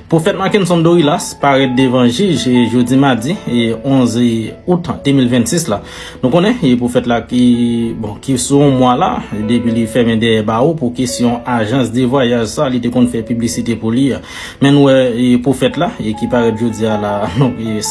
Pwofèt Mackenson Dorilas parèt devan jij jodi madi 11 out 2026 la. Nou konnen pwofèt la ki bon ki sou yon mwa la depi li fèmen dèyè bawo pou kesyon ajans de vwayaj sa li te konn fè piblisite pou li a. Men nou wè pwofèt la ki parèt jodi a la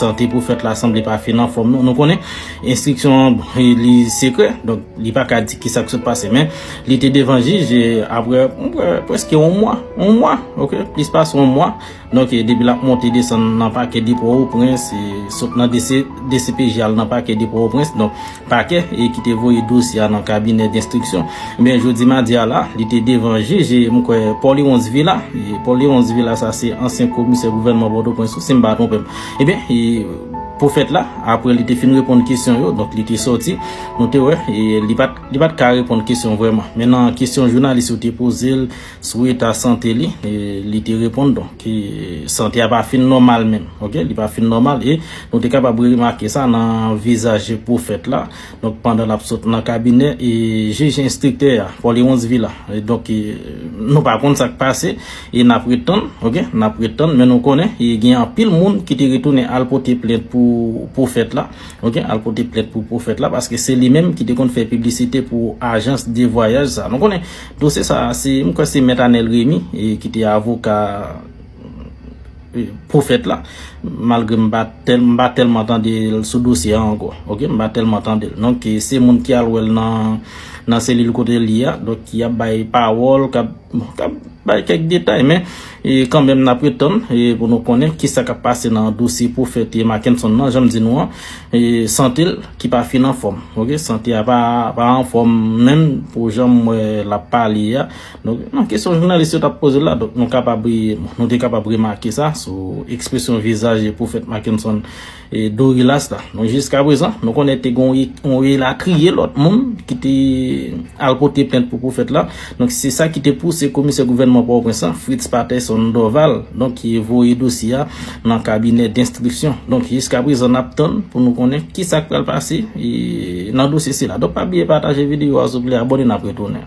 sante pwofèt la sanble pa fin anfòm non. Nou konnen enstriksyon li sekrè donk li pa ka di ki sa k sot pase men. Li te devan jij e apre preske yon mwa, yon mwa, ok, plis pase yon mwa, donk e depi l ap monte desann nan pakè de Pòtoprens e sot nan dcpj al nan pakè de Pòtoprens, donk pakè e ki te voye dosye a nan kabinè denstriksyon. Ebyen jodi madi a la, li te devan jij e m kwè Paul Léonce Villa, e Paul Léonce Villa sa se ansyen komisè gouvènman Pòtoprens tou si m pa twonpe m. Ebyen e pwofèt la apre li te fin reponn kesyon yo, donk li te sòti, nou te wè e li pa t. Li pat ka reponn kesyon vrèman. Men nan kesyon jounalis yo te poze l sou eta sante li, li te reponn donk sante a pa fin nòmal menm. Ok, li pa fin nòmal e nou te kapab remake sa nan vizaj pwofèt la. Donk pandan l ap sot nan kabinè e jij enstriktè a, Paul Héronce Villa. Donk nou pa konn sa k pase e n ap ret tann. Ok, n ap ret tann men nou konnen gen anpil moun ki te retounen al pote plent pou pwofèt la. Ok al pote plent pou pwofèt la paske se li menm ki te konn fè piblisite pou ajans de vwayaj sa. Nou konnen dosye sa se m kwè se mèt Anel Remy ki te avoka pwofèt la malgre m pa m pa tèlman tande l sou dosye an ankò ok m pa tèlman tande l donk se moun ki al wè l nan nan selil kote li a donk ki ap bay pawòl k ap Bon, tap bay kèk detay men kanmenm nap ret tann pou nou konnen kisa kap pase nan dosye pwofèt te Mackenson nan, janm di nou an sante l ki pa fin anfòm ok, sante a pa anfòm menm pou janm wè lap pale a donk nan kesyon jounalis yo tap poze l la donk nou kapab nou te kapab remake sa sou ekspresyon vizaj pwofèt Mackenson. E Dorilas la, nou jiska prezan, nou konnen te gon yon elatriye lòt moun ki te al pote plent pou pwofèt la. Donk se sa ki te pouse komisè gouvènman Pòtoprens lan, Fritz Patterson Dorval, donk ki voye dosye a nan kabinè denstriksyon. Donk jiska prezan nap tann pou nou konnen ki sa k pral pase nan dosye sila. Donk pa bliye pataje videyo a souple, abòne nap retounen.